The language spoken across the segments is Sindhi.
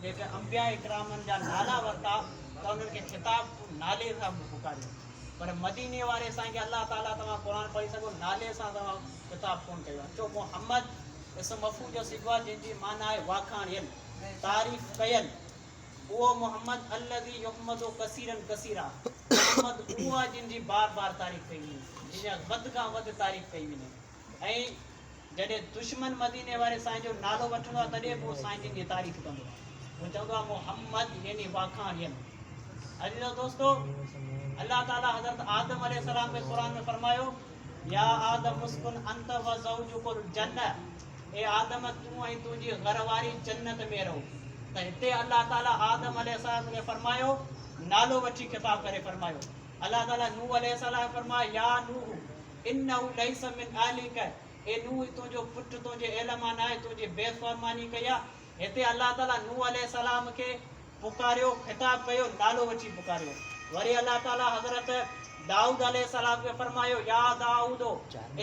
جيڪي انبياء ڪرامن جا نالا ورتا ته انهن کي خطاب تون نالي سان به پڪاريو پر مديني واري سائين کي الله تعاليٰ توهان قرآن پڙهي سگهو نالي سان توهان خطاب ڪونه ڪيو آهي ڇو محمد اسم مفعول جو صيغو آهي جنهن جي معنيٰ آهي واکاڻيل تعريف ڪيل اهو محمد الذي يحمد ڪثيرا ڪثيرا محمد اهو آهي جنهن جي بار بار تعريف ڪئي وڃي جنهن جي وڌ کان وڌ تعريف ڪئي وڃي ۽ جڏهن دشمن مديني واري سائين جو نالو وٺندو آهي تڏهن به اهو سائين جن جي تعريف ڪندو آهي هو چوندو آهي محمد يعني واکاڻين عزيزو دوستو الله تعالي حضرت آدم عليه السلام کي قرآن ۾ فرمايو يا آدم مسڪن انت و زوجڪ الجنه اي آدم تون ۽ تنهنجي گهر واري جنت ۾ رهو ته هتي الله تعالي آدم عليه السلام کي فرمايو نالو وٺي خطاب ڪري فرمايو الله تعالي نوح عليه السلام فرمايو يا نوح انه ليس من اهلک، اي نوح تنهنجو پٽ تنهنجي اهل مان ناهي، تنهنجي بيفرماني ڪئي آهي. هتي الله تعاليٰ نوح عليه السلام کي پڪاريو، خطاب ڪيو، نالو وٺي پڪاريو. وري الله تعاليٰ حضرت دائود عليه السلام کي فرمايو، يا دائود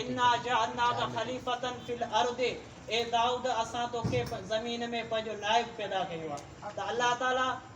انا جعلناک خليفة في الارض، اي دائود اسان توکي زمين ۾ پنهنجو نائب پيدا ڪيو آهي. ته الله تعاليٰ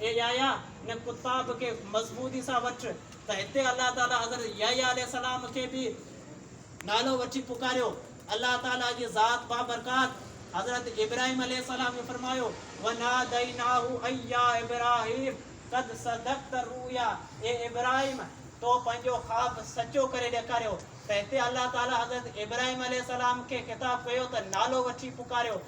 اي يحيٰ! ان ڪتاب کي مضبوطي سان وٺ ته هتي الله تعاليٰ حضرت يحيٰ عليه السلام کي به نالو وٺي پڪاريو. الله تعاليٰ جي ذات بابرڪات حضرت ابراهيم عليه السلام کي فرمايو، وناديناه اي يا ابراهيم قد صدقت الرؤيا اي ابراهيم! تو پنهنجو خواب سچو ڪري ڏيکاريو ته هتي الله تعاليٰ حضرت ابراهيم عليه السلام کي خطاب ڪيو ته نالو وٺي پڪاريو.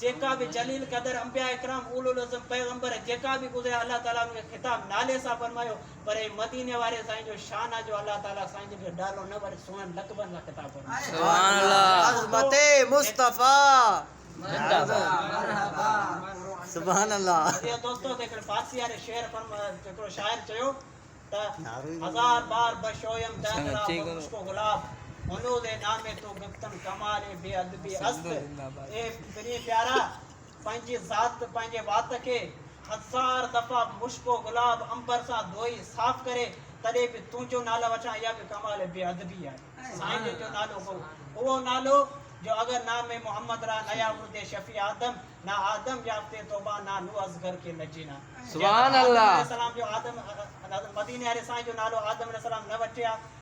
جيڪا به جليل قدر انبياء ڪرام اولو العزم پيغمبر جيڪا به گذريا الله تعالي انهن کي خطاب نالي سان فرمايو پر هي مديني واري سائين جو شان آ جو الله تعالي سائين جن کي ڊالو نه وري سونهن لقبن سان خطاب فرمايو سبحان الله عظمت مصطفيٰ زنده باد مرحبا سبحان الله ٻڌيو دوستو ته هڪڙي فارسي واري شعر فرما هڪڙو شاعر چيو. ته هزار بار به شويم دهترا به مشڪو گلاب هنوز اي نامي تو گفتن ڪمال اي بي ادبي است اي پرين پيارا پنهنجي ذات پنهنجي وات کي هزار دفعا مشڪو گلاب عنبر سان ڌوئي صاف ڪري تڏهن به تنهنجو نالو وٺان اها به ڪمال بي ادبي آهي. سائين جن جو نالو هو اهو نالو جو اگر نام محمد را نيا ورد شفيع آدم نا آدم يافته توبه نا نوح اصغر کي نه جينا سبحان الله آدم عليه السلام جو آدم مديني واري سائين جو نالو آدم عليه السلام نه وٺيا